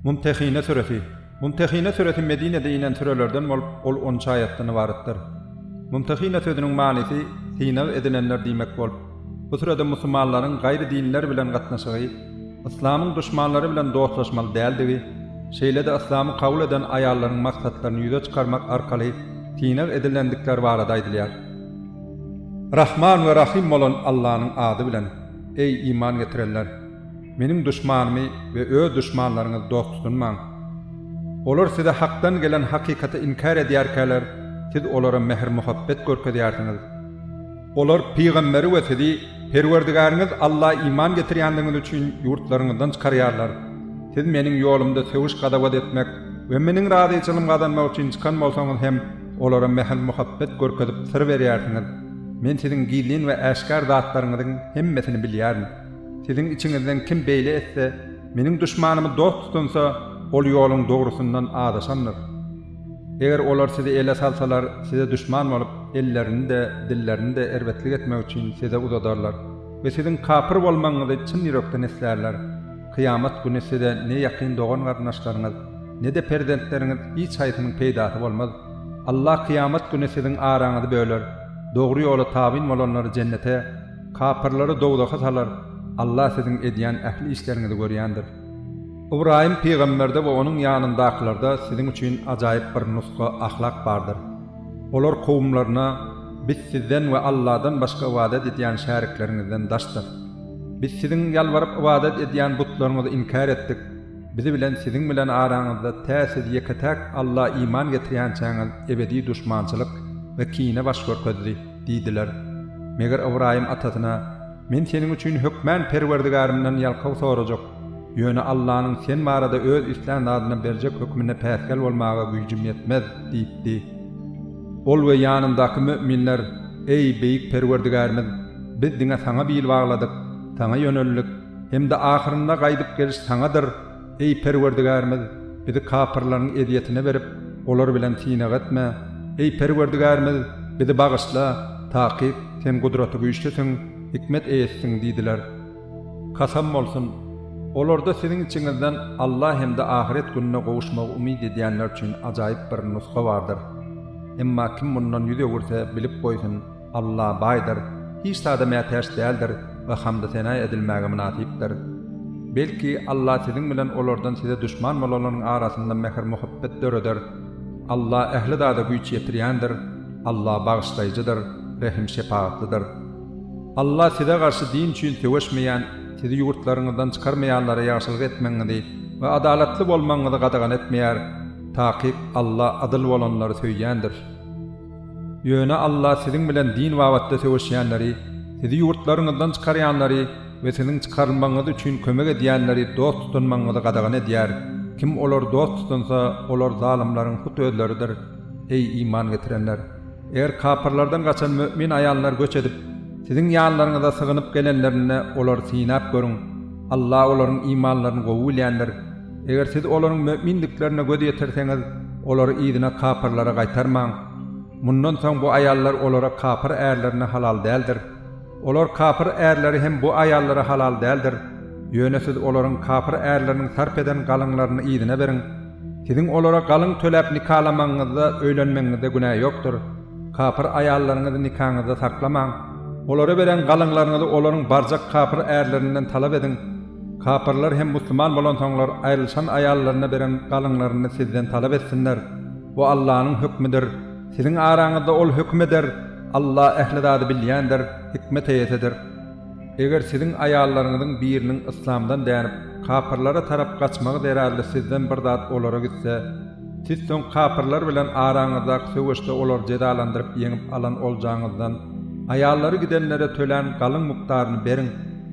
Mumtehine süresi. Mumtehine süresi Medinede inen sürelerden bolup, ol on üç aýatdan ybaratdyr. Mumtehine sözüniň manysy synag edilenler diýmek bolup, bu sürede musulmanlaryň gaýry dinler bilen gatnaşygy, yslamyň duşmanlary bilen dostlaşmaly däldigi, şeýle-de yslamy kabul eden aýallaryň maksatlaryny ýüze çykarmak arkaly synag edilendikleri barada aýdylýar. Rahman we Rahym bolan Allanyň ady bilen. Eý, iman getirenler! Meniň duşmanymy we öz duşmanlaryňyzy dost tutunmaň. Olar size Hakdan gelen hakykaty inkär edýärkäler, siz olara mähir-muhabbet görkezýärsiňiz. Olar pygamberi we sizi Perwerdigäriňiz Alla iman getirýändigiňiz üçin ýurtlaryňyzdan çykarýarlar. Siz Meniň ýolumda sögüş-gazawat etmek we Meniň razyçylygym gazanmak üçin çykan bolsaňyz hem, Olara mähir-muhabbet görkezip syr berýärsiňiz. Men siziň gizlin we äşgär zatlaryňyzyň hemmesini bilýärin. Siziň içiňizden kim beýle etse, Meniň duşmanymy dost tutunsa, ol ýoluň dogrusyndan azaşandyr. Eger olar sizi ele salsalar, size duşman bolup, ellerini-de, dillerini-de erbetlik etmek üçin size uzadarlar we siziň kapyr bolmagyňyzy çyn ýürekden islärler. Kyýamat güni size ne ýakyn dogan-garyndaşlaryňyz, ne-de perzentleriňiz hiç haýsynyň peýdasy bolmaz. Allah kyýamat güni siziň araňyzy böler, dogry ýola tabyn bolanlary jennete, kapyrlary dowzaha salar, Allah siziň edýän ähli işleriňizi görýändir. Ybraýym pygamberde we onuň ýanyndakylarda siziň üçin ajaýyp bir nusga, ahlak, bardyr. Olar kowumlaryna, Biz sizden we Allahdan başga ybadat edýän şärikleriňizden daşdyr. Biz siziň ýalbaryp ybadat edýän butlaryňyzy inkär etdik, bizi bilen siziň bilen araňyzda tä siz ýeke-täk Alla iman getirýänçäňiz ebedi duşmançylyk we kine baş görkezdi diýdiler. Meger Ybraýym atasyna, Men seniň üçin hökmän Perwerdigärimden ýalkaw sorajak, ýöne Allanyň sen barada öz islän zadyna berjek hökmüne päsgel bolmaga güýjüm ýetmez diýipdi. Ol we ýanyndaky müminler, Eý, beýik Perwerdigärimiz! Biz diňe Saňa bil bagladyk, Saňa ýöneldik, hem-de ahyrynda gaýdyp geliş Saňadyr. Eý, Perwerdigärimiz, bizi kapyrlaryň ezýetine berip, olar bilen synag etme. Eý, Perwerdigärimiz, bizi bagyşla, takyk, Sen Gudratygüýçlüsiň, hikmet eýesisin diýdiler. Kasam bolsun! Olarda siziň içiňizden Alla hem-de ahyret gününe gowuşmagy umyt edýänler üçin ajaýyp bir nusga bardyr. Emma kim mundan ýüz öwürse, bilip goýsun! Alla baýdyr, hiç zada mätäç däldir we hamdy-sena edilmäge mynasypdyr. Belki, Alla siziň bilen olardan size duşman bolanlaryň arasynda mähir-muhabbet döreder. Alla ähli zada güýç ýetirýändir. Alla bagyşlaýjydyr, rehim-şepagatlydyr. Alla size garşy din üçin söweşmeýän, sizi ýurtlaryňyzdan çykarmaýanlara ýagşylyk etmegiňizi we adalatly bolmagyňyzy gadagan etmeýär. Takyk Alla adyl bolanlary söýýändir. Ýöne Alla siziň bilen din babatda söweşýänleri, sizi ýurtlaryňyzdan çykarýanlary we siziň çykarylmagyňyz üçin kömek edýänleri dost tutunmagyňyzy gadagan edýär, kim olary dost tutunsa, olar zalymlaryň hut özleridir. Eý, iman getirenler! Eger kapyrlardan gaçan mömin aýallar göç edip, siziň ýanlaryňyza sygynyp gelenlerinde olary synap görüň. Alla olaryň imanlaryny gowy bilýändir. Eger siz olaryň mömindiklerine göz ýetirseňiz, olary yzyna kapyrlara gaýtarmaň. Mundan soň bu aýallar olara kapyr ärlerine halal däldir. Olar kapyr ärleri hem bu aýallara halal däldir. Ýöne siz olaryň kapyr ärleriniň sarp eden galyňlaryny yzyna beriň. Siziň olara galyň töläp nikalamagyňyzda, öýlenmegiňizde günä ýokdur. Kapyr aýallaryňyzy nikaňyzda saklamaň. Olara beren galyňlaryňyzy olaryň barjak kapyr ärlerinden talap ediň. Kapyrlar hem musulman bolansoňlar aýrylyşan aýallaryna beren galyňlaryny sizden talap etsinler. Bu Allanyň hökmüdir. Siziň araňyzda Ol höküm eder. Alla ähli zady bilýändir, hikmet eýesidir. Eger siziň aýallaryňyzyň biriniň yslamdan dänip, kapyrlara tarap gaçmagy zerarly sizden bir zat olara gitse, siz soň kapyrlar bilen araňyzdaky söweşde olary jezalandyryp ýeňip alan oljaňyzdan aýallary gidenlere tölän galyň mukdaryny beriň.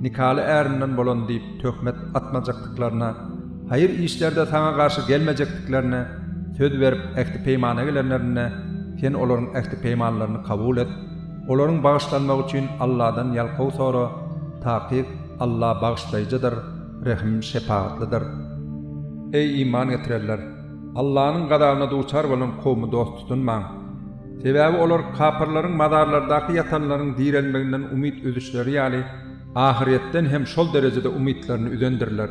Nikaly ärinden bolan diýip töhmet atmajakdyklaryna, haýyr işlerde saňa garşy gelmejekdiklerine söz berip ähti-peýmana gelenlerinde, sen olaryň ähti-peýmanlaryny kabul et, olaryň bagyşlanmagy üçin Alladan ýalkaw sora, takyk, Alla Bagyşlaýjydyr, Rehim, Şepagatlydyr. Eý, iman getirenler! Allanyň gazabyna duçar bolan kowmy dost tutunmaň. Sebäbi olar kapyrlaryň mazarlardaky ýatanlaryň direlmeginden umyt üzüşleri ýaly, ahyrýetden hem şol derejede umytlaryny üzendirler.